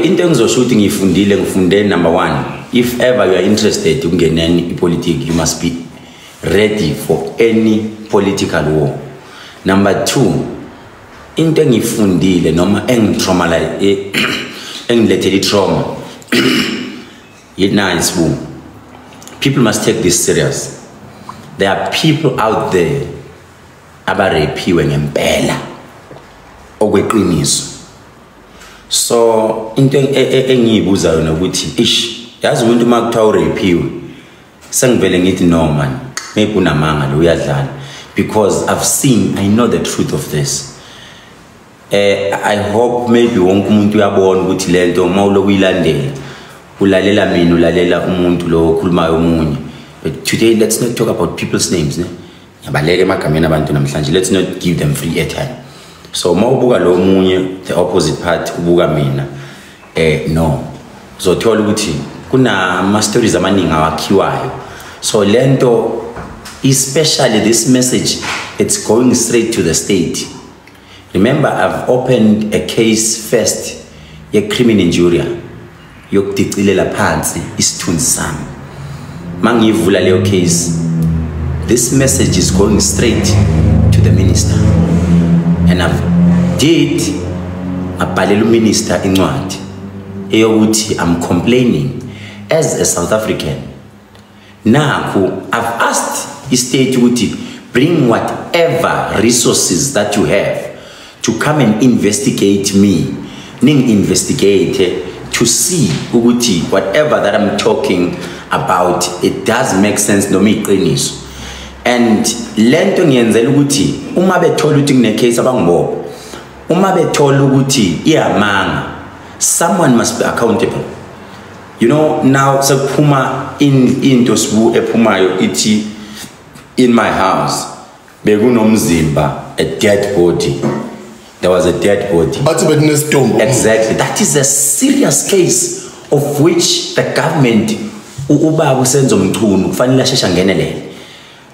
into engizosho ukuthi ngiyifundile ngifunde number one if ever you are interested ukungeneni ipolitiki you must be ready for any political war number two into engiyifundile noma engitraumalize eh, engilethele itrauma yinayo isibungu people must take this serious there are people out there abarephiwe ngempela okweqiniso so into e, e, engiyibuza yona ukuthi ish yazi umuntu uma kuthiwa urephiwe sengivele ngithi no man maybe unamanga lo uyadlala because i've seen i know the truth of this eh i hope maybe wonke umuntu uyabona ukuthi lento uma uloku uyilandela ulalela mina ulalela umuntu lo okhulumayo omunye but today let's not talk about people's names ne ngiyabaleka emagameni abantu namhlanje let's not give them free airtime so uma ubuka lo munye the opposite party ubuka mina eh no uzothola ukuthi kunama stories amaningi awakhiwayo so lento especially this message it's going straight to the state Remember I've opened a case first ye criminal injury yokudicilela phansi isithunzi sami. Mangivula leyo case this message is going straight to the minister and I've did abhalela uminister incwadi eyokuthi I'm complaining as a South African nakhu i've asked istate ukuthi bring whatever resources that you have to come and investigate me ningi investigate to see ukuthi whatever that i'm talking about it does make sense noma iqiniso and lento ngiyenzela ukuthi uma bethola ukuthi kune case abangibopha uma bethola ukuthi iyamanga someone must be accountable you know now sekuphuma into sibu ephumayo ithi in my house bekunomzimba a dead body there was a dead body bathi bekunestomp exactly that is a serious case of which the government ubaba usenzo mchunu kufanele asheshe angenelele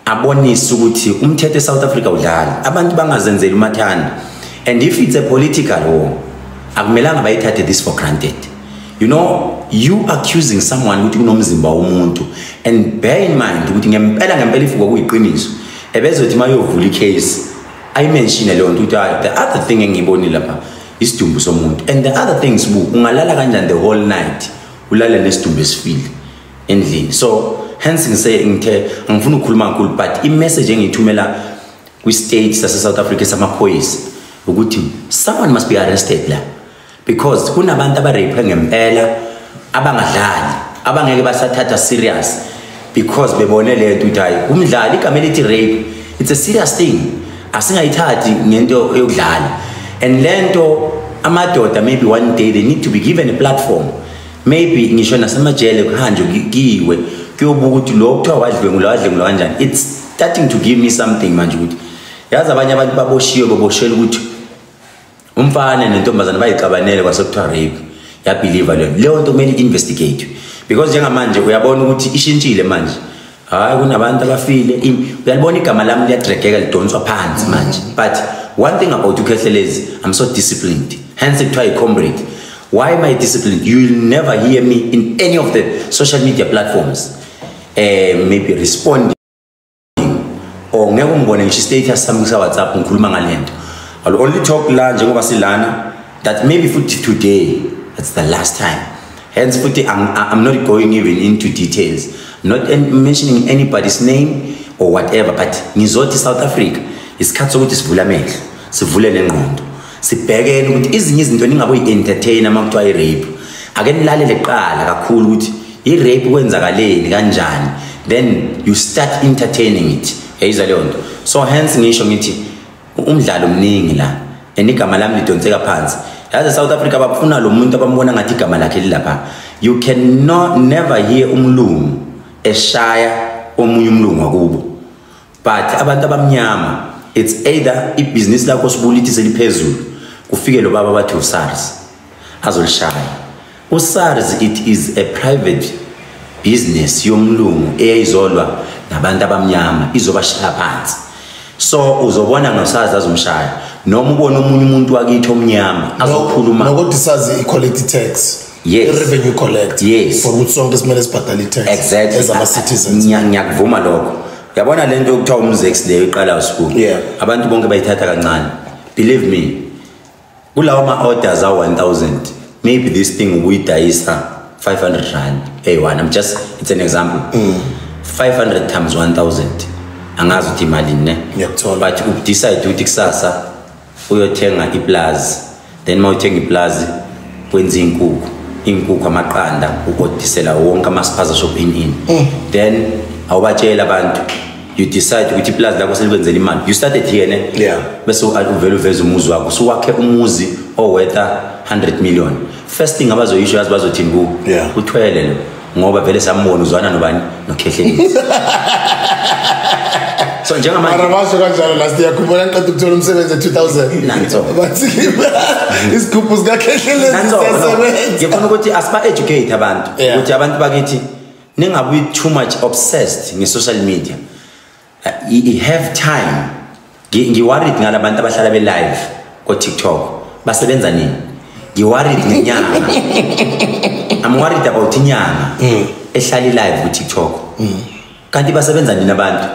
abonise ukuthi umthetho eSouth Africa udlala abantu bangazenzeli umathanda and if it's a political war akumelanga bayithathe this for granted you know you accusing someone ukuthi kunomzimba womuntu and bear in mind ukuthi ngempela ngempela ifuko kuyiqiniso ebezothi mayovula icase i mention leyo nto ukuthi ah, the other thing engiyibonile lapha isidumbu somuntu and the other things bu ungalala kanjani the whole night ulale nesidumbu esifile endlini so hence ngise ngithe angifuni ukukhuluma kakhulu but imessage engiyithumela kwi-state sase-south africa samaphoyisa ukuthi someone must be arrested la because kunabantu abareyiphe ngempela abangadlali abangeke basathatha serious because bebone le nto ukuthi hayi umdlali igama elithi rape it's a serious thing asingayithathi ngento yokudlala and le nto amadoda maybe one day they need to be given a platform maybe ngisho nasemajele kuhanjwe kiwe kuyobuka ukuthi lo kuthiwa wadlwengula wadlwengula kanjani it's starting to give me something manje ukuthi yazi abanye abantu baboshiwe baboshela ukuthi umfana nentombazane bayixabanele kwasekuthiwa rape yabhiliva leyo leyo nto kumele i-investigate because njengamanje uyabona ukuthi ishintshile manje hayi kunabantu abafile uyalibona igama lami liyadregeka lidonswa phansi manje but one thing about ukhehlelezi i'm so disciplined hence kuthiwa yi-comrade why am i disciplined you will never hear me in any of the social media platforms um maybe responding or oh, ngeke ungibone ngisho i-status sami kusawhatsapp ngikhuluma ngale nto i'll only talk la njengoba silana that maybe futhi today that's the last time Hence, futhi, I'm, I'm not going even into details, not mentioning anybody's name or whatever, but ngizothi South Africa, isikhathi sokuthi sivule amehlo, sivule nengqondo, sibhekene ukuthi izinye izinto ningaboyi-entertaina uma kuthiwa i-rape. Ake nilalele kuqala kakhulu ukuthi i-rape kwenzakaleni kanjani, then you start entertaining it. Yayizwa leyo nto. So hence ngisho ngithi umdlalo mningi la and igama lami lidonseka phansi yazi south africa bakufuna lo muntu abambona ngathi igama lakhe lilapha you cannot never hear umlungu eshaya omunye umlungu wakubo but abantu abamnyama it's either ibhizinisi lakho sibulithise liphezulu kufike lo baba bathi usars azolishaya usars it is a private business yomlungu eyayizolwa nabantu abamnyama izobashaya phansi so uzobona ngosars azomshaya noma ubona omunye umuntu wakithi omnyama azokhuluma nokuthi sazi i-quality tax yes. revenue collect yes. for ukuthi sonke simele sibhadale i-tax exactly. as ama-citizens ngiyakuvuma lokho yabona le nto yokuthiwa umzex leyo iqala usuku yeah. abantu bonke bayithatha kancane believe me kulawo ma-orders a-1000 maybe this thing ubuyidayisa 500 rand eyi-one im just it's an example mm. 500 times 1000 angazi ukuthi imalini ne but udecide ukuthi kusasa uyothenga iplazi then uma uthenga iplazi kwenza iy'nkukhu iy'nkukhu amaqanda ukodisela wonke amasiphaza shop in in mm. then awubatsheli abantu you decide ukuthi ipulazi lakho selikwenzela imali you started here ne yeah bese uvele uveze umuzi wakho so wakhe umuzi owetha 100 million first thing abazoyisho yazi bazothini ku yeah. uthwele lo ngoba vele sambona uzwana nobani nokhehlelile so njengamanje mara basho kanjalo last year khumbula ngiqeda ukuthola umsebenzi e2000 nanso bathi isikhuphu sika khehlelezi siyasebenza ngifuna ukuthi asiba educate abantu ukuthi abantu bakithi ningabi too much obsessed nge-social media uh, have time ngiworried ngala bantu abahlala be-live kotiktok basebenza nini ngiworried ngenyanga i'm worried about inyanga mm. ehlala i-live kutiktok mm. kanti basebenza nini abantu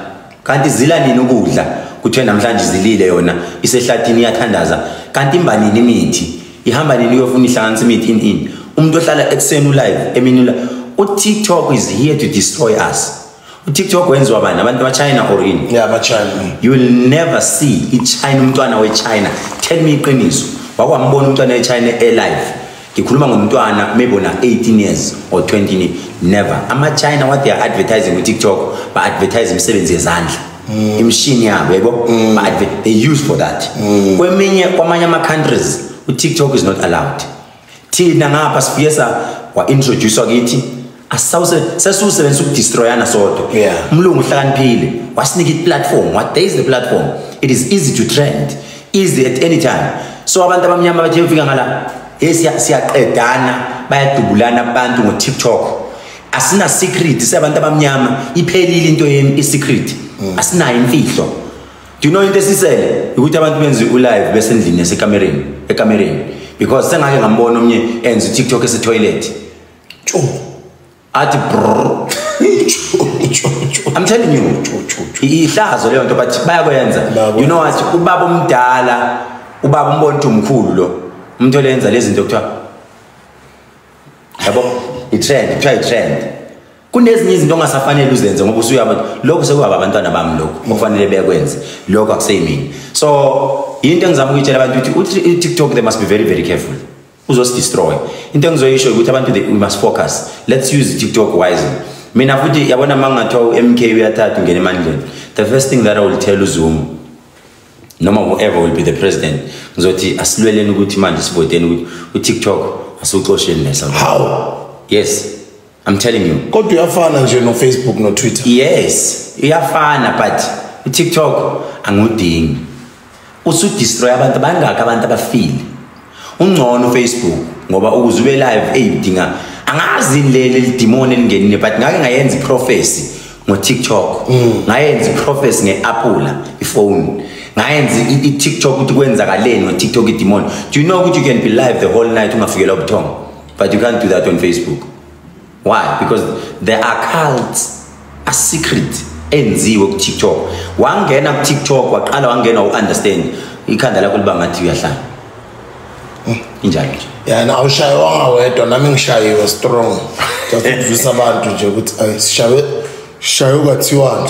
kanti zila nini ukudla kuthiwe namhlanje izilile yona isehlathini iyathandaza kanti imba nini imithi ihamba nini uyofuna ihlanganisa imithi in in umuntu ohlala ekuseni ulive emini ulive utiktok is here to destroy us utiktok wenziwa bani abantu bachina or in yeah, bachina you will never see ichina umntwana wechina tell me iqiniso wakwambona umntwana wechina elive ngikhuluma ngomntwana maybe ona 18 years or 20 never ama China what they are advertising ku TikTok ba advertise imisebenzi yezandla mm. imshini yabo yebo mm. ba they use for that mm. kweminye kwamanye ama countries u TikTok is not allowed thina ngapha sifike sa wa introduce kithi asawuse sesiwusebenzisa ukudestroyana sodwa yeah. umlungu uhlakaniphile wasinika iplatform what there is the platform it is easy to trend easy at any time so abantu abamnyama bathe ufika ngala hey siyaqedana bayadubulana abantu ngo-tiktok asina secret siyabantu abamnyama iphelile into yenu i-secret mm. asinayo imfihlo do you know into esisele ukuthi abantu benze ulive besendlini yasekamereni ekamereni because sengake ngambona omnye enza utiktok esetoilet athi I'm telling you ihlazo leyo nto but bayakwenza you know what ubaba omdala ubaba umbona ukuthi umkhulu lo umuntu olenza lezi zinto kuthiwa yabo i-trend kuthiwa i-trend kunezinye izinto ongasafanele uzenze ngoba usuyaba lokho sekuhaba abantwana bami lokho okufanele bekwenze lokho akuseyimini so yinto engizama ukuyitshela abantu ukuthi uTikTok they must be very very careful uzosdestroy into engizoyisho ukuthi abantu we must focus let's use tiktok wisely mina futhi yabona uma ngingathiwa u-mk uyathatha ungena emandleni the first thing that i will tell uzuma noma whoever will be the president ngizothi asilweleni ukuthi manje sivoteni ukuthi utiktok asiwuxosheni nesouth yes I'm telling you. Kodwa uyafana nje no Facebook no Twitter. Yes, uyafana but uTikTok angudingi. Usu destroy abantu bangaka abantu abafile. Ungcono Facebook ngoba ukuze ube live eyidinga angazi leli lidimoni elingenile but ngake ngayenza prophecy ngo TikTok. Mm. Ngayenza prophecy ngeApple ifone. ngayenza i-tiktok ukuthi kwenzakaleni ngo-tiktok idimoni do you know ukuthi you can be live the whole night ungafikelwa ubuthongo But you can't do that on Facebook. Why? Because there are cults, a secret enziwe ku TikTok. Wangena ku TikTok waqala wangena u understand ikhanda lakho liba ngathi uyahlala. Hmm. Injalo nje. Yeah, na awushayewanga wedwa nami ngishayiwe strong. Just ukuvisa abantu nje ukuthi ay sishawe shayo kwathiwani.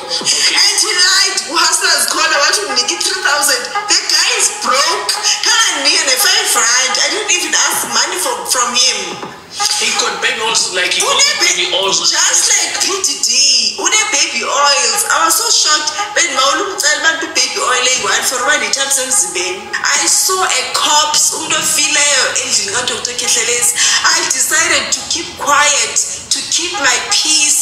and he lied uhustlers khona wathi unginike i-3000 the guy is broke kanganginike ne-5 rand i didn't even ask money from, from him he got baby oils like he got baby oils just like pdd une-baby oils i was so shocked bendibawula umcela abantu baby oil eyi-one for uba nethapsi emzimbeni i saw a cops umuntu ofileyo endlini kadr khehlelezi i decided to keep quiet to keep my peace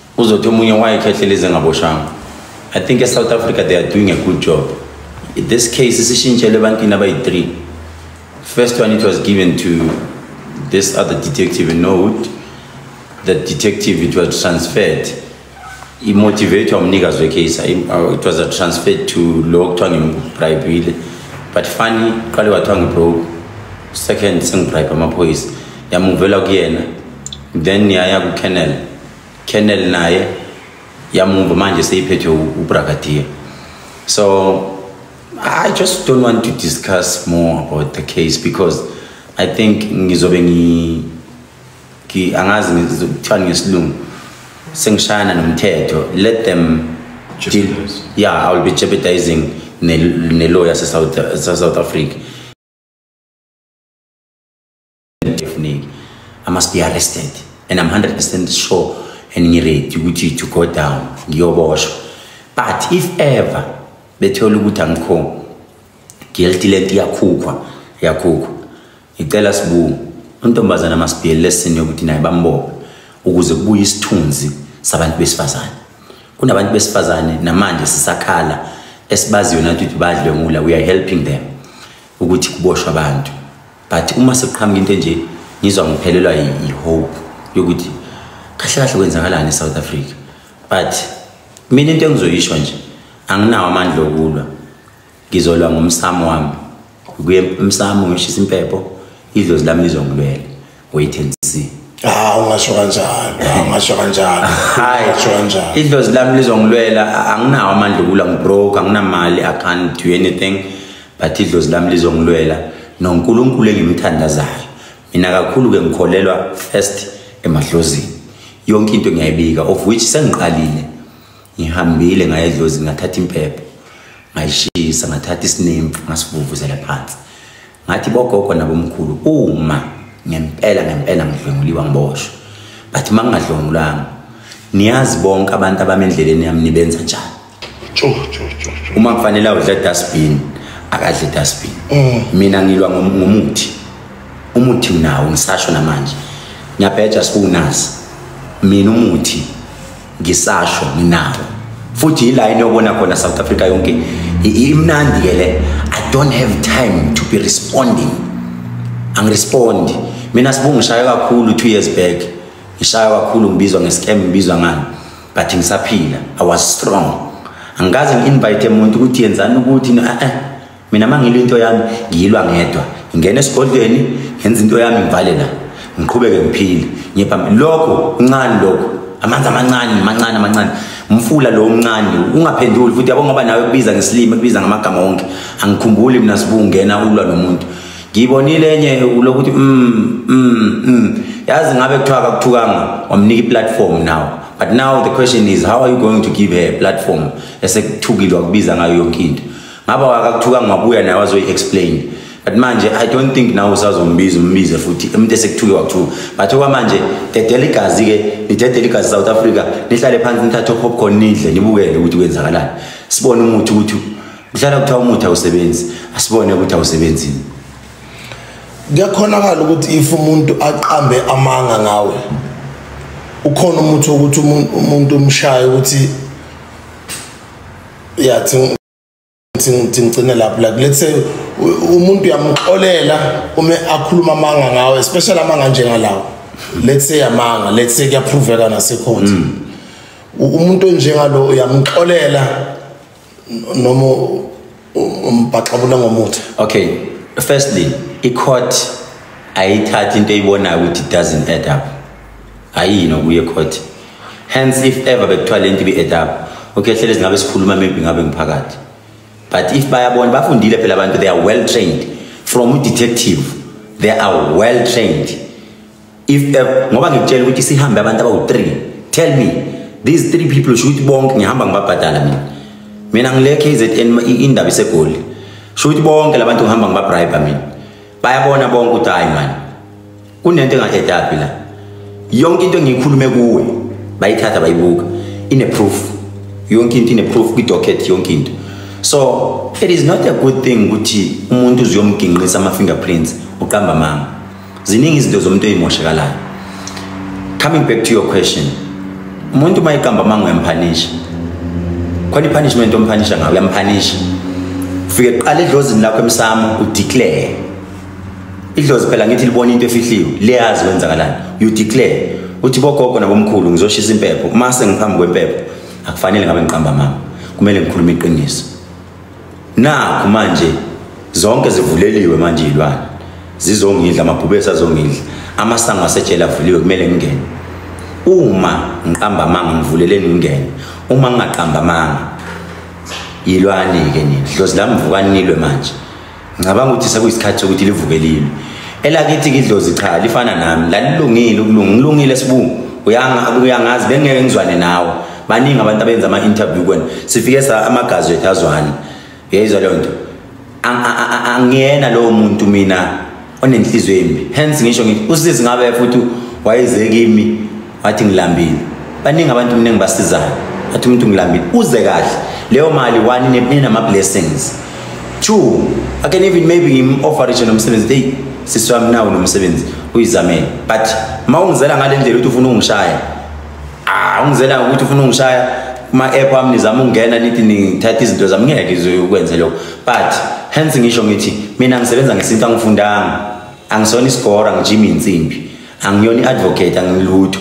uzothi omunye wayekhehlela izingaboshanga i think esouth africa they are doing a good job this case isishintshele ebantwini abayi-three first one it was given to this other detective in norwood the detective it was transferred imotivatwa umnikazi wecase uh, it was a transferred to lo kuthiwa ngibribile but funny qale wathiwa ngibroke second sengibribe amaphoyisa yamuvela kuyena then yaya kucanel Colonel naye yamumva manje seyiphethwe uBrigadier so I just don't want to discuss more about the case because I think ngizobe ngi ki angazi ngizokuthiwa ngesilungu sengishayana nomthetho let them deal yeah I will be jeopardizing ne ne lawyer se South South Africa ngifuneki i must be arrested and i'm 100 percent sure and ngiready ukuthi to go down ngiyoboshwa but if ever bethola ukuthi angikho guilty lento iyakhukhwa yakhukhwa ngicela sibuku untombazana masibhiyele lesini yokuthi naye bambophe ukuze kubuye isithunzi sabantu besifazane kunabantu besifazane namanje sisakhala esibaziyo nathi ukuthi badle ngula we are helping them ukuthi kuboshwa abantu but uma sekuqhamuka into enje ngizwa ngiphelelwa yi-hope yokuthi kahle kahle kwenzakalani e-south africa but mina into engizoyisho nje anginawo amandla okulwa ngizolwa ngomsamo wami kuye emsamo ngishisa impepho idlozi lami lizongilwela wait and see Ah ungasho kanjalo, ah, ungasho kanjalo. Hayi, ungasho kanjalo. Idlozi lami lizongilwela, anginawo amandla okulwa ngibroke, anginamali, I can't do anything. but idlozi lami lizongilwela nonkulunkulu engimthandazayo mina kakhulu-ke ngikholelwa first emadlozini yonke into ngiyayibika of which sengiqalile ngihambile ngaya edlozini ngathatha impepho ngayishisa ngathatha isinemfu ngasivuvuzela phansi ngathi bogogo nabomkhulu uma ngempela ngempela ngidlwenguliwa ngiboshwe but uma ngingadlwengulanga niyazi bonke abantu abami endleleni yami nibenza njani uma kufanele awudla dustbin akadle dustbin mm. mina ngilwa ngomuthi umuthi unawo ngisasho namanje ngiyabheja sikunazi mina umuthi ngisasho nginawo futhi yila into yobona khona south africa yonke imnandi ke le i don't have time to be responding angirespondi mina sibungu ngishaywe kakhulu two years back ngishaywe kakhulu ngibizwa ngescam ngibizwa ngani but ngisaphila i was strong angikaze ngi-invite muntu ukuthi yenzani ukuthi eh, eh. mina uma ngilwa into yami ngiyilwa ngedwa ngingena esigodlweni ngenza into yami ngivale la ngiqhubeke ngiphile ngiye phambili lokho kuncane lokho amanzi amancane mancane amancane umfula lo omncane ungaphenduli futhi yabo ngoba nawe kubiza ngesilimi kubiza ngamagama wonke angikhumbuli mina sibungena ulwa nomuntu ngiyibonile enye lokuthi mm, mm, mm. yazi ngabe kuthiwa kakuthukanga wamnika i-platform now but now the question is how are you going to give her a platform esekuthukile wakubiza ngayo yonke into ngaba wakakuthukanga wabuya naye wazoyi-explain but manje i don't think nawe usazombiza umbize futhi umuntu esekuthuke wakuthuka but okwamanje dedela igazi-ke nidedela igazi south africa nihlale phansi nithathe opopcorn nidle nibukele ukuthi kwenzakalani sibone umuthi ukuthi Kuhlala kuthiwa umuthi awusebenzi, asibone ukuthi awusebenzini. Kuyakhonakala ukuthi if umuntu aqambe amanga ngawe ukhona umuthi wokuthi umuntu umshaye ukuthi ya ngigcine lapho like let's say umuntu uyamxolela uma akhuluma amanga ngawe especially amanga njengalawo let's say amanga let's say kuyaphroveka nasekhonti mm. umuntu onjengalo uyamxolela noma umbaxabula ngomuthi okay firstly i-court ayithathi into eyibonayo ukuthi it doesn't add up ayiyi nokuye court hence if ever bekuthiwa le nto ibe-add up okay hlele zingabe sikhuluma maybe ngabe ngiphakathi but if bayabona bafundile phela abantu they are well trained from udetective they are well trained if uh, ngoba ngikutshela ukuthi sihambe abantu abawu-3 tell me these three people sho ukuthi bonke ngihamba ngibabhadala mina mina ngile kzn indaba isegoli sho ukuthi bonke la bantu ngihamba ngibabribe mina bayabona bonke ukuthi hayi mani kunento enga-edaphi la yonke into engiyikhulume kuwe bayithatha bayibuka ine-proof yonke into ine-proof kwi-docket yonke into so it is not a good thing ukuthi umuntu uzuyomginqisa ama-fingerprints uqamba manga ziningi izinto zomuntu eyimoshekalayo coming back to your question umuntu uma iqamba amanga uyamphanisha khona i-punishment omphanisha ngayo uyamphanisha ufike kuqala edlozini lakho emsamo udeclare idlozi phela ngithi libona into efihliwe liyazi kwenzakalani you declare uthi bogogo nabomkhulu ngizoshisa impepho uma sengiphambi kwempepho akufanele ngabe ngiqamba mama kumele ngikhulume iqiniso nakho manje zonke zivuleliwe manje iy'lwane zizongidla amabhubesi azongidla amasango asejele avuliwe kumele ngingene uma ngiqamba amanga ngivuleleni ngingene uma ngingaqamba amanga yilwani-ke nina dlozi lami vukanilwe manje ngicabanga ukuthi sekuyisikhathi sokuthi livuke lilwe elakithi kidlozi cha lifana nami lalilungile ukulunga ngilungile sibungu uyangazi bengeke ngizwane nawe baningi abantu abenza ama-interview kwena sifike sa amagazi wethu azwane uyayizwa leyo nto angiyena lowo muntu mina onenhliziyo embi hence ngisho ngithi usizi ngabe futhi wayeze kimi wathi ngilambile baningi abantu mningi basizayo athi umuntu ngilambile uze kahle leyo mali one ninama blessings two i can even maybe ngim offer each nomsebenzi hey siswami nawo nomsebenzi uyizamele but mawungizela ngalendlela uthi ufuna ungishaya ah ungizela ukuthi ufuna ungishaya kuma app ami nizama ukungena nithi nithatha izinto zami ngeke izokwenze lokho but hence ngisho ngithi mina ngisebenza ngesintu angifundanga angisona isigora ngijima insimbi angiyona iadvocate angilutho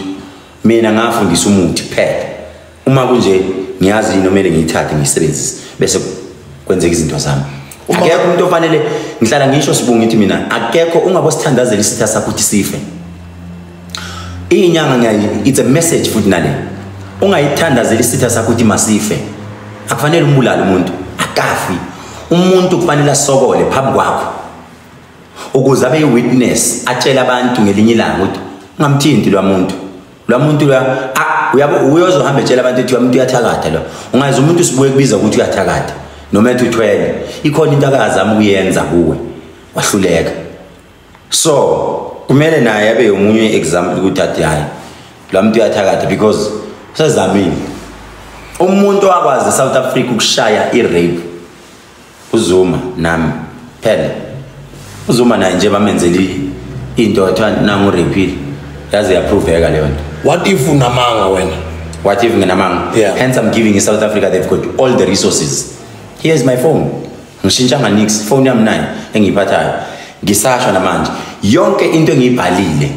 mina ngafundisa umuthi kuphela uma kunje ngiyazi yini omele ngiyithathe ngiyisebenzise bese kwenzeka izinto zami akekho umuntu ofanele ngihlala ngisho sibunga ithi mina akekho ungabo sithandazela isitha sakho ukuthi sife inyanga ngiyayi it's a message futhi nale ungayithandazela isitha sakho ukuthi masife akufanele umbulale umuntu akafi umuntu kufanele asokole phambi kwakho ukuze abe yi-witness atshele abantu ngelinye ilanga ukuthi ungamthinti lwa muntu lo muntu lo uyabo uyozohamba etshela abantu ukuthi umuntu uyathakatha lo ungazi umuntu usibuye kubiza ukuthi uyathakatha noma ethi uthwele ikhona into akazama ukuyenza kuwe wahluleka so kumele naye abe yomunye example ukuthi athi hayi lo muntu uyathakatha because usezamile umuntu wakwazi south africa ukushaya i-rape uZuma nami phela uZuma naye nje bamenzele into athiwa nangu repeal yaze yaphroveka leyo nto what if unamanga wena what if nginamanga yeah. hence i'm giving in south africa they've got all the resources here is my phone ngishintshanga nix phone yami nayo engiyiphathayo ngisasho namanje yonke into engiyibhalile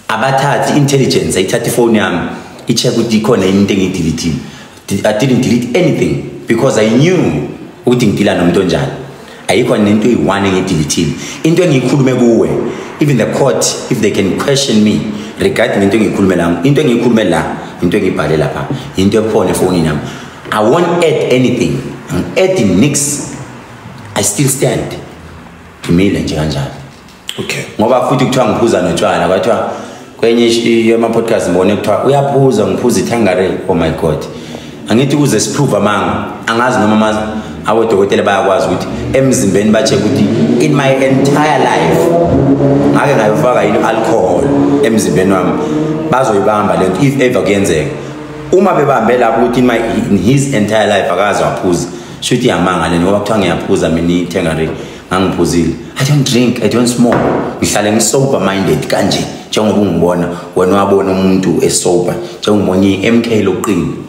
abathathi intelligence ayithatha ifoni yami i-check ukuthi ikhona yini into engiyidilithile i didn't delete anything because i knew ukuthi ngidila nomuntu onjani ayikho nento eyi-one engiyidilithile into engiyikhulume kuwe even the court if they can question me regarding into engiyikhulume la into engiyikhulume la into engiyibhale lapha into ekhona efonini yami i won't add anything ngi-add nix i still stand ngimile nje kanjalo okay ngoba futhi kuthiwa ngiphuza notshwala kwathiwa kwenye yama-podcast ngibone kuthiwa uyaphuza ngiphuza ithangare oh my god angithi ukuze siprove amanga angazi noma amazi abodokotela bayakwazi ukuthi emzimbeni batshe ukuthi in my entire life ngake ngayofaka yini alcohol emzimbeni wami bazoyibamba le nto if ever kuyenzeka uma bebambe lapho ukuthi in his entire life akaze waphuza shuthi yamanga le ngoba kuthiwa ngiyaphuza mina ithenga ngangiphuzile i don't drink i don't smoke ngihlale ngisober minded kanje njengoba ungibona wena wabona umuntu esober njengobona i-mk lokuqina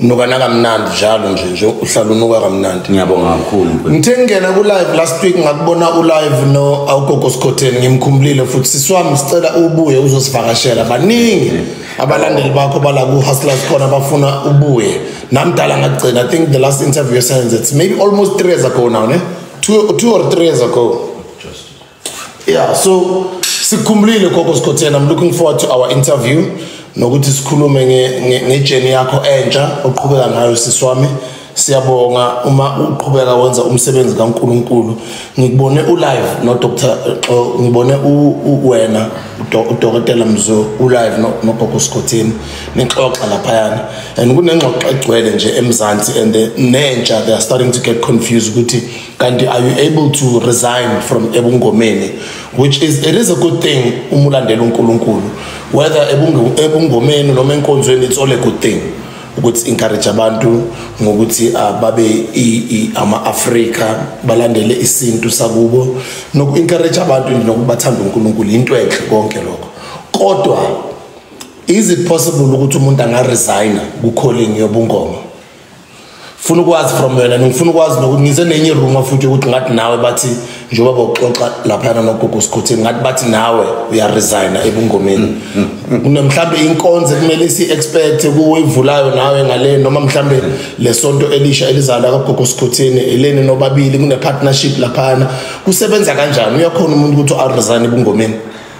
unukana kamnandi njalo nje nje uhlala unuka kamnandi ngiyabonga kakhulu ngithe ngingena ku-live last week ngakubona u-live no awugogo sikhotheni ngimkhumbulile futhi siswami sicela ubuye uzosivakashela baningi abalandeli bakho bala ku-hustlers khona bafuna ubuye namdala ngagcina i think the last interview esenze it's maybe almost three years ago now ne two, two or three years ago yeah so sikhumbulile gogo sikhotheni i'm looking forward to our interview nokuthi sikhulume ngejeni yakho entsha oqhubeka ngayo sisi wami siyabonga uma uqhubeka wenza umsebenzi kaNkuluNkulu ngikubone ulive no doctor ngibone uwena udokotela Mzo ulive no gogo Skhotheni nixoxa laphayana and kunengxoxo egcwele nje emzansi and nentsha they are starting to get confused ukuthi kanti are you able to resign from ebungomeni which is it is a good thing uma ulandela unkulunkulu whether ebungomeni noma enkonzweni it's all a good thing ukuthi encourage abantu ngokuthi ah, babe ama-afrika balandele isintu sakubo noku-encourage abantu nokubathanda unkulunkulu yinto enhle konke lokho kodwa is it possible ukuthi umuntu angaresigna ku-calling yobungoma funa ukwazi from wena ngifuna ukwazi nokuthi ngize nenye iruma futhi ukuthi ngathi nawe bathi njengoba bawuxoxa laphayana nogogo sikhuthini ngathi bathi nawe uyaresigna ebungomeni mhlawumbe inkonzo kumele si-expect kuwuyivulayo nawe ngale noma mhlawumbe le sonto elisha elizalwa kagogo sikhuthini eleni nobabili kune-partnership laphayana kusebenza kanjani uyakhona umuntu ukuthi aresign ebungomeni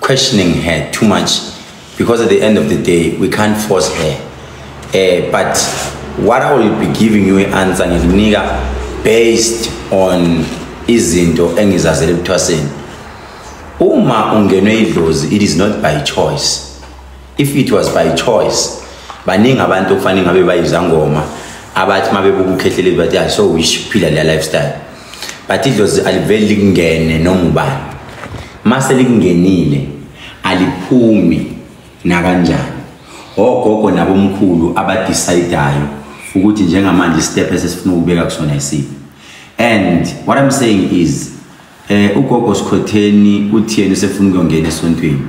questioning her too much because at the end of the day we can't force her uh, but what i will be giving you i-answer ngikunika based on izinto engizazele ebuthwaseni uma ungenwe idlozi it is not by choice if it was by choice baningi abantu okufanele ngabe bayizangoma abathi uma bebuka ukhehleleli bathi i so wish phila leya lifestyle but idlozi aliveli likungene noma ubani mase likungenile aliphumi nakanjani ogogo nabomkhulu abadecidayo ukuthi njengamanje step esesifuna ukubeka kusona isiphi and what i'm saying is eh ugogo sikhotheni uthi yena usefuna ukuyongena esontweni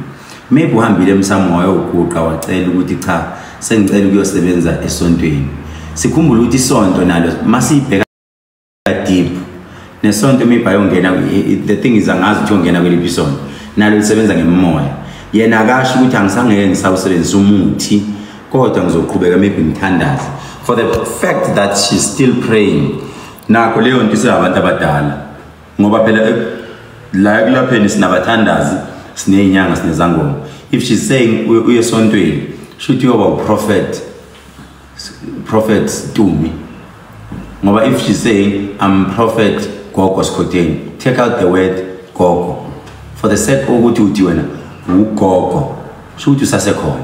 maybe uhambile emsamo wayoguqa wacela ukuthi cha sengicela ukuyosebenza esontweni sikhumbule ukuthi isonto nalo masibheka deep nesonto uma ibhayo ngena the thing is angazi ukuthi ongena kweliphi isonto nalo lisebenza ngemoya yena akasho ukuthi angisangeke ngisawusebenzisa umuthi kodwa ngizoqhubeka maybe ngithandaze for the fact that she's still praying nakho leyo nto iseyabantu abadala ngoba phela eh, la ekulapheni sinabathandazi siney'nyanga sinezangoma if she's saying uyesontweni shuthi uyoba uprofethi prophet Tumi ngoba if she say I'm prophet gogo Skhodeni take out the word gogo for the sake ukuthi uthi wena ugogo sho ukuthi usasekhona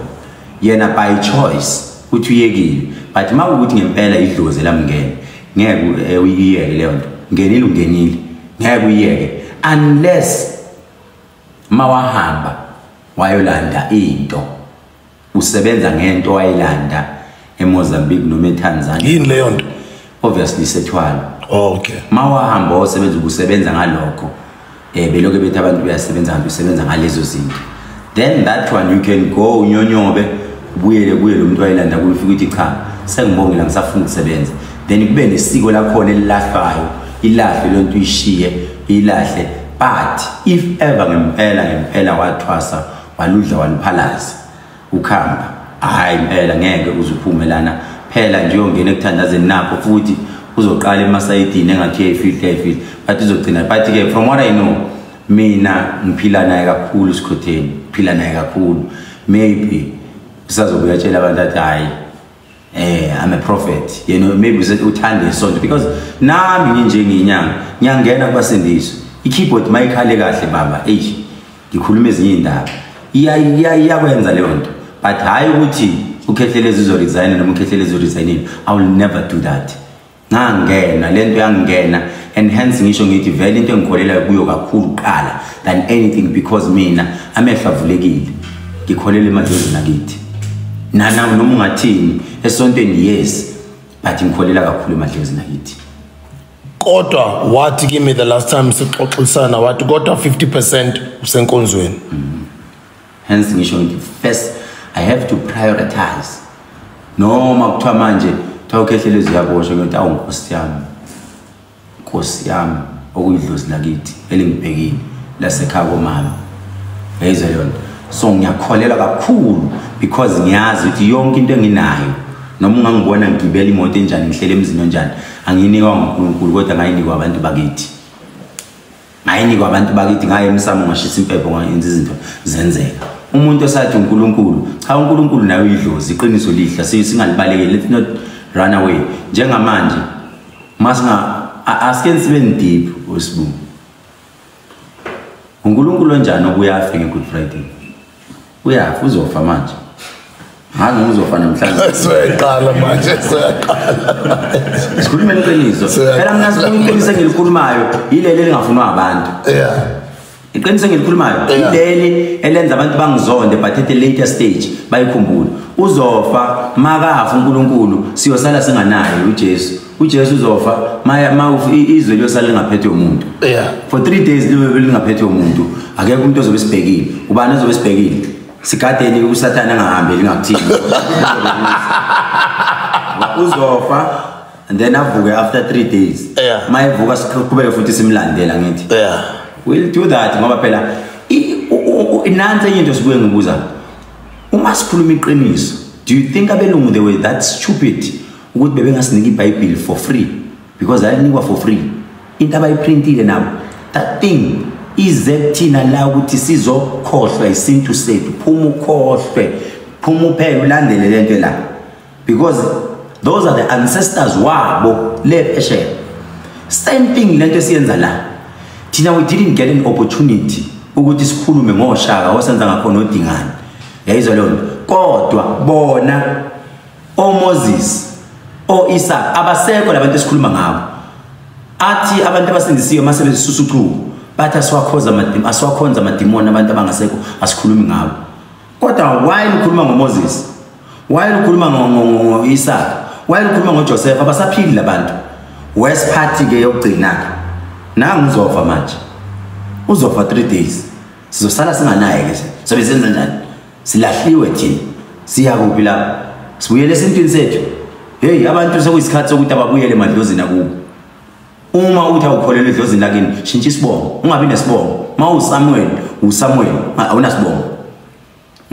yena by choice uthi uyekile but uma ukuthi ngempela idlozi lamngene ngeke eh, uyiyeke leyo nto ngenile ungenile ngeke uyiyeke unless mawahamba wayolanda into usebenza ngento wayilanda eMozambique noma eTanzania yini leyo nto obviously sethwala okay mawahamba osebenza ukusebenza ngalokho eh beloke bethi abantu uyasebenza kanti usebenza ngalezo zinto then that one you can go unyonyobe ubuyele kuye lo muntu wayelanda kuyo ufike ukuthi cha sengibongela ngisafuna ukusebenza then kube nesiko lakhona elilahlwayo ilahle lento uyishiye ilahle but if ever ngempela ngempela wathwasa waludla waluphalaza ukhamba hayi impela ngeke uzuphume lana phela nje uyongena ekuthandazeni nakho futhi uzoqala emasayidini engathi uyayifihle yayifihle but uzogcina but-ke from what i know mina ngiphila naye kakhulu sikhotheni ngiphila naye kakhulu maybe usazobe uyatshela abantu athi hhayi eh i'm a prophet you know maybe uze uthande isonto because nami nginje nginyanga ngiyangena kubasindiso ikeyboard mayikhale kahle baba eish ngikhuluma ezinye indaba iya iya iyakwenza leyo nto but hayi ukuthi ukhehlelezi uzo resign noma ukhehlelezi uzo resign i will never do that ngangena lento yangena and hence ngisho ngithi vele into engikholelayo kuyo kakhulu kuqala than anything because mina amehlo avulekile ngikholela emadlozini akithi nana noma ungathini esontweni yes but ngikholela kakhulu emadlozini akithi kodwa wathi kimi the last time sixoxisana wathi kodwa 50% usenkonzweni mm -hmm. hence ngisho ngithi first i have to prioritize noma kuthiwa manje kuthiwa ukhehlele ziyaboshwa ngiyothi awu nkosi yami nkosi yami okuyidlozi lakithi elingibhekile lasekhaya komama yayizwa leyo nto so ngiyakholelwa kakhulu because ngiyazi ukuthi yonke into enginayo noma ungangibona ngigibela imoto enjani ngihlele emzini onjani angiyinikwa ngunkulunkulu kodwa ngayinikwa abantu bakithi ngayinikwa abantu bakithi ngaye emsamo ngashisa impepho ngayenza izinto zenzeka umuntu osathi uNkulunkulu cha uNkulunkulu naye uyidlozi iqiniso lihle singalibalekeli let's not run away njengamanje masinga asike sibe deep wesibungu uNkulunkulu onjani obuyafe ngeGood Friday uyafa uzofa manje ngazi noma uzofa namhlanje siyaqala manje siyaqala sikhuluma iqiniso phela mina sifuna iqiniso engilikhulumayo yileli elingafunwa abantu yeah iqiniso engilikhulumayo yileli elenza abantu bangizonde but at the later stage bayikhumbule uzofa makafa uNkulunkulu siyosala singanaye uJesu uJesu uzofa maya ma izwe liyosala lingaphethe umuntu yeah for 3 days libe lingaphethe umuntu akekho umuntu ozobe sibhekile ubani ozobe sibhekile sigadeni usathana angahambi lingakuthini uzofa and then avuke after 3 days yeah ma evuka siqhubeke futhi simlandela ngithi yeah we'll do that ngoba phela inansi enye into sibuye ngibuza uma sikhuluma iqiniso do you think abelungu they were that stupid ukuthi bebengasinika ibhayibhili for free because lalinikwa for free into abayiprintile nabo that thing ize kuthina la ukuthi sizokhohlwa isintu sethu phuma ukhohlwe phuma uphele ulandele le nto la because those are the ancestors wabo le phesheya same thing le nto esiyenza la thina we didn't get an opportunity ukuthi sikhulume ngoshaka osenza ngakhona odingane yayizwa leyo nto kodwa bona oMoses oIsaka abasekho labantu esikhuluma ngabo athi abantu abasindisiwe masebenzisa usucuku bathi asiwakhoza amadimoni asiwakhonza amadimoni abantu abangasekho asikhulumi ngabo kodwa why ukhuluma ngoMoses why ukhuluma ngoIsaka why ukhuluma ngoJoseph abasaphili labantu worst party ke yokugcina ke nangu uzofa manje uzofa 3 days sizosala singanaye ke sobe senza njani silahliwe thina siya kuphi lapho sibuyele esintwini sethu heyi abantu sekuyisikhathi sokuthi ababuyele emadlozini akubo uma uthi awukholelwa edlozini lakini shintsha isibongo ungabi nesibongo uma usamuweli usamuweli awunasibongo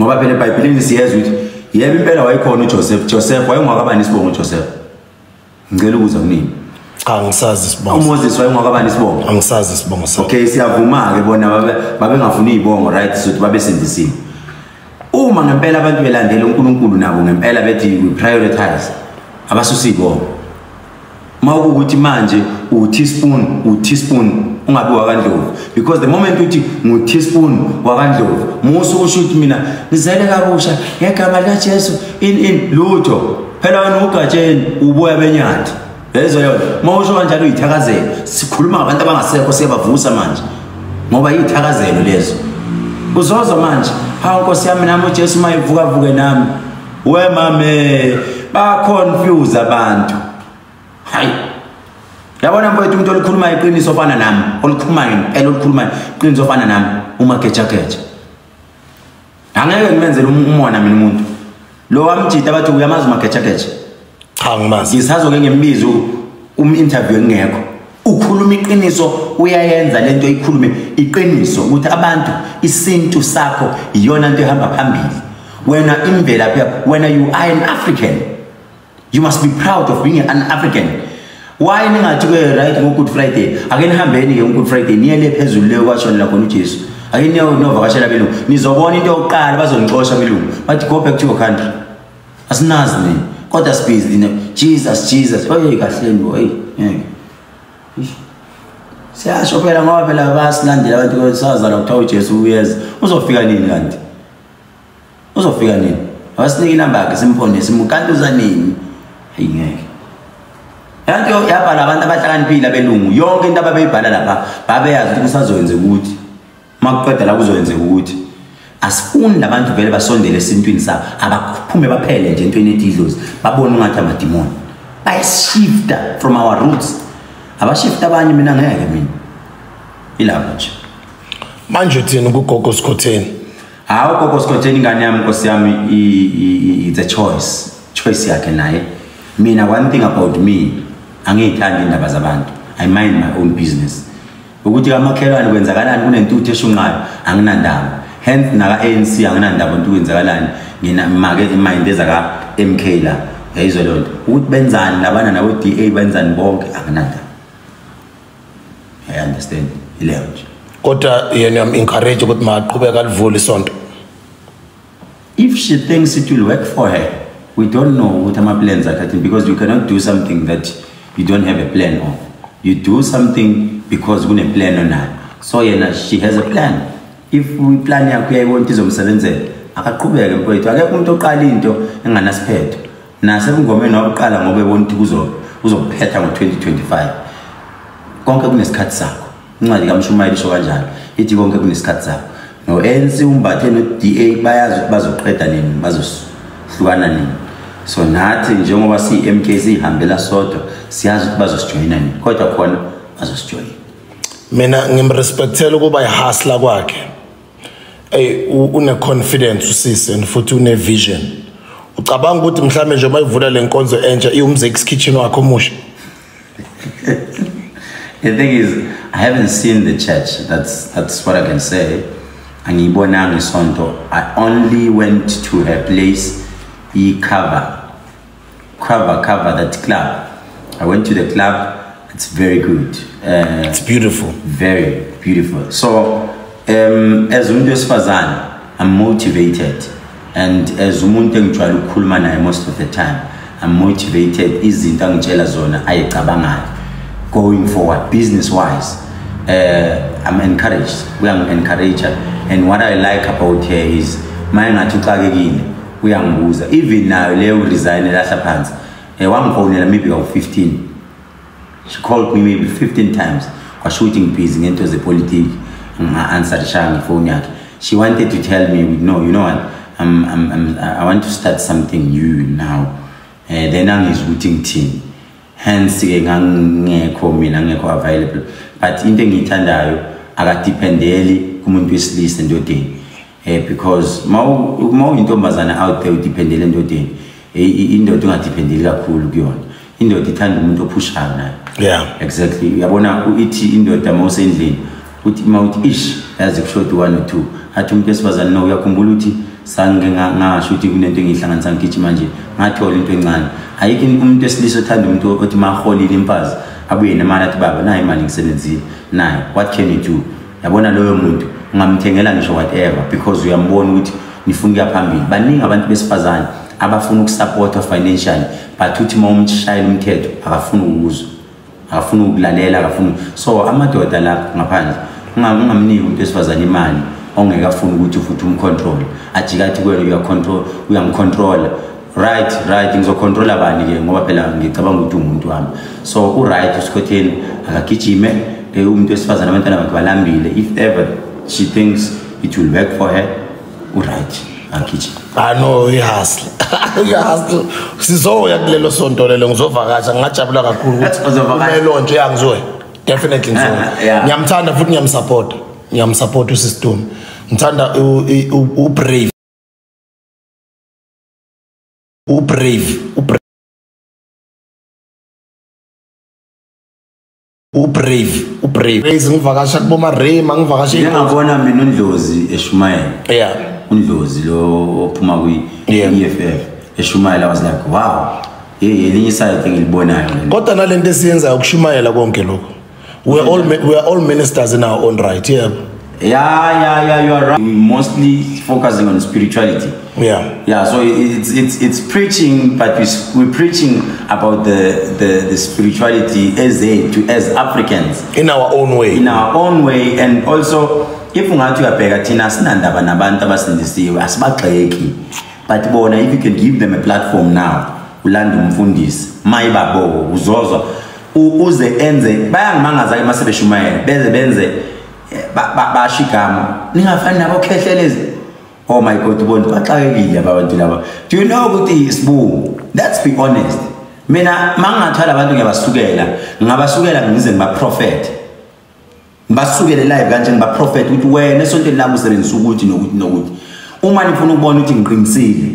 ngoba phela ebhayibhelini siyezwa ukuthi yebo impela wayekhona uJoseph Joseph wayengwakabani isibongo Joseph ngicela ukuza kunini cha ngisazi isibongo umoses wayengwakabani isibongo angisazi isibongo sakhe okay siyavuma-ke bona babengafuni iy'bongo right sokuthi babesindisile uma ngempela abantu belandela unkulunkulu nabo ngempela bethi we prioritize abasusa iy'bongo uma kuwukuthi manje uteaspoon uteaspoon ungabi wakandlovu because the moment uthi ngu-teaspoon wakandlovu musa ukusho ukuthi mina ngizele kabusha ngegama likajesu in in lutho phela wena ugatsheni uboya benyathi yezwa yona uma usho kanjalo uyithakazelo sikhuluma ngabantu abangasekho siyabavusa manje ngoba yiyithakazelo lezo uzozwa manje hawu nkosi yami nami ujesu uma evukavuke nami we mame baconfuse abantu hayi yabona mfowethu umuntu olukhuluma iqiniso ofana nami olukhulumayo ngempela olukhulumayo iqiniso ofana nami umagejageja angeke ngimenzele um-, umona mina umuntu lo wamjita bathi uyamazi umagejageja cha ngimazi ngisazoke ngimbize um-interview engekho ukhuluma iqiniso uyayenza le nto ikhulume iqiniso ukuthi abantu isintu sakho iyona nto ehamba phambili wena imvelaphi yakho wena you are an african You must be proud of being an African. Why ningathi ke right ngo Good Friday? Ake nihambeni ke ngo Good Friday niye le phezulu le kwashonela khona uJesu. Ake niye novakashela belungu. Nizobona into yokuqala bazongixosha belungu. But go back to your country. Asinazi ni. Kodwa sibhizi ni. Jesus Jesus. Oye kahle ni boy. Ngeke. Siyasho phela ngoba phela basilandela abantu kwesazana kuthiwa uJesu uyeza. Uzofika nini kanti? uzofika nini awasinike inamba yakhe simphone simukantuza nini hayi ngeke yanto yabhala abantu abahlakaniphile abelungu yonke into ababeyibhala lapha babeyazi ukuthi kusazoyenze ukuthi uma kuqeda la kuzoyenze ukuthi asifuni labantu vele basondele esintwini sabo abaphume baphele nje entweni ethi idlozi babone ungathi amadimoni bayashifta from our roots abashifta abanye mina ngeke mina ilapho nje manje uthini kugogo sikhotheni hawu gogo sikhotheni ingane yami nkosi yami it's a choice choice yakhe naye mina one thing about me angiyithandi indaba zabantu i mind my own business ukuthi kamakhelwane kwenzakalani kunentuthu eshunqayo anginandaba hence naka-anc anginandaba nto kwenzakalani ngina make imayinde zaka-m k la yayizwe loo nto ukuthi benzani labana nabo-d a benzani bonke anginandaba I understand. Ileyo nje. Kodwa yena am encourage ukuthi maqhubeka alivule isonto. If she thinks it will work for her, we don't know what ama plans are cutting because you cannot do something that you don't have a plan of. You do something because kune plan onayo. So yena she has a plan. If we plan yakho yayibona izomsebenzela, akaqhubeke mfowethu. Akekho umuntu oqala into enganasiphetho. nasebungomeni wakuqala ngoba ebona ukuthi uzokuphetha ngo-2025 konke kunesikhathi sakho incwadi kamshumayeli isho kanjalo ithi konke kunesikhathi sakho no-anc umbathe no-d a bayazi ukuthi bazoqeda nini bazohlukana nini so nathi njengoba siyi-m k siyihambela sodwa siyazi ukuthi bazosijoyina nini kodwa khona bazosijoyina mina ngimrespectela ukuba yihasla kwakhe Hey une confidence usisi and futhi une vision. Ucabanga ukuthi mhlambe nje uma ivula lenkonzo entsha iwumzex kitchen wakho omusha. The thing is I haven't seen the church. That's that's what I can say. Angiyibonanga isonto. I only went to her place i cover Cover, cover that club. I went to the club. It's very good. Uh, it's beautiful. Very beautiful. So, um, as umuntu wesifazane, I'm motivated. And as umuntu engijwayele ukukhuluma naye most of the time, I'm motivated. Izinto angitshela zona ayicabangayo. Going forward, business-wise, uh, I'm encouraged. We are encouraged. And what I like about her is, my ngathi uxakekile. uyangibuza even nayo leyo resign elahla phansi eh wangifonela maybe ka 15 she called me maybe 15 times kwasho ukuthi ngibhizi ngento zepolitiki nginga-answer shanga ifoni yakhe she wanted to tell me no you know what I'm, I'm, I'm, i want to start something new now um uh, then angizwa ukuthi ngithini hence-ke ngangingekho mina ngekho available but into engiyithandayo akadependeli kumuntu wesilisa endodeni eh because uma uyintombazane out there udependele endodeni eh, indoda ungadependeli kakhulu kuyona indoda ithanda umuntu ophushayo naye yeah exactly uyabona ithi indoda uma usendlini uthi uma uthi ish yazi kushoda one or two athi umuntu esifazane no uyakhumbula ukuthi sange ngasho ukuthi kunento engiyihlanganisa ngigithi manje ngathola into encane ayikho umuntu wesilisa othanda umuntu othi maholile imfazi abuye nemali athi baba nayo imali ngisebenzile nayo what can you do yabona loyo muntu ungamthengela ngisho whatever because uyambona ukuthi nifuna ukuya phambili baningi abantu besifazane abafuna ukusupportwa financially but uthi uma umshayela umthetho akafuni ukuzwa akafuni ukulalela akafuni so amadoda lapho ngaphandle ungamniki umuntu wesifazane imali ongeke afune ukuthi futhi umcontrole ajikathi kwena uyacontrol uyamcontrola right right ngizocontrola bani ke ngoba phela ngicabanga ukuthi umuntu wami so uright usikhotheni akagijime eh, umuntu wesifazane abantwana bakhe balambile if ever she thinks it will work for her uright akagijime ah no uyahasle uyahasle sizoya kulelo sonto lelo ngizovakasha ngingajabula kakhulu ukuthi umelo nje angizoya definitely ngizoya ah, ngiyamthanda futhi ngiyamsupport ngiyamsupport usistum ngithanda ubrave ubrave ubrave ubrave raise ngivakasha kuboma rema ngivakasha ngiyabona mina undlozi eshumayela yeah undlozi lo ophuma kwi EFF eshumayela was like wow hey elinye isayithe ngilibonayo kodwa nalento esiyenzayo ukushumayela konke lokho we are all we are all ministers in our own right yeah yeah yeah yeah you are right mostly focusing on spirituality yeah yeah so it's it's it's preaching but we we're preaching about the the, the spirituality as a to as africans in our own way in our own way and also if ungathi uyabheka thina sinandaba nabantu abasindisiwe asibagxeki but bona if you can give them a platform now ulanda umfundisi mayibabo uzozwa ukuze enze bayangimangaza ke masebeshumayela beze benze eh, basho igama ningafani nabo khehlelezi oh my god ubona baxakekile abantu laba do you know ukuthi isibu let's be honest mina mangingathwala abantu ngiyabasukela ngingabasukela ngize ngibaprofethe ngisukele live kanje ngibaprofethe ukuthi wena esontweni lami usebenzisa ukuthi nokuthi nokuthi uma nifuna ukubona ukuthi ngiqinisile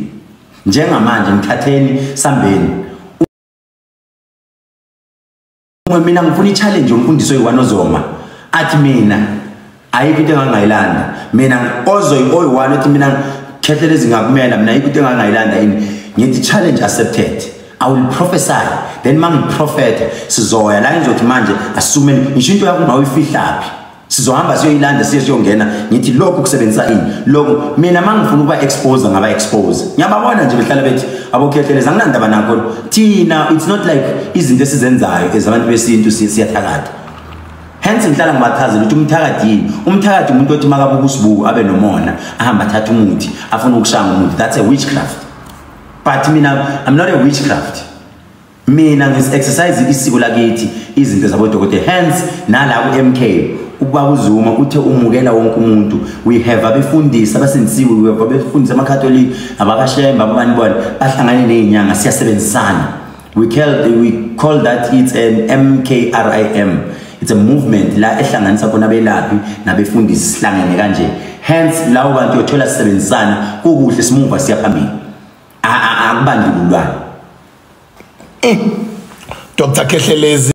njengamanje ngithatheni sambeni Uma mina ngifuna i-challenge yomfundisi oyi-one ozoma athi mina ayikho into engangayilanda mina ozoyi-oyi-one othi mina khethe lezi ngakumela mina ayikho into engangayilanda yini ngithi challenge accepted I will prophesy then mangiprofethe sizoya la ngizothi manje asume ngisho into yakho mawuyifihlaphi sizohamba siyoyilanda siye siyongena ngithi lokhu kusebenzisa ini lokhu mina mangifuna ukuba expose ngaba expose ngiyababona nje behlala bethi abokhetheleza anginandaba nakho thina it's not like izinto esizenzayo ezabantu besintu siyathakatha hence ngihlala ngibachazela ukuthi umthakathi yini umthakathi umuntu othi makabuka usibuku abe nomona ahamba athatha umuthi afuna ukushaya ngomuthi that's a witchcraft but mina i'm not a witchcraft Mina ngis exercise isiko lakithi izinto zabodokotela hence nala ku MK ubaba uZuma uthe umukela wonke umuntu we have abefundisi abasindisiwe we have abefundisi amakatholika abakashemba ababani bona bahlangane nezinyanga siyasebenzisana we call we call that it's an MKRIM it's a movement la ehlanganisa khona abelaphi nabefundisi sihlangene kanje hence lawo bantu yothola sisebenzisana kukuhle simuva siyaphambili akubandlululwana mm. dr khehlelezi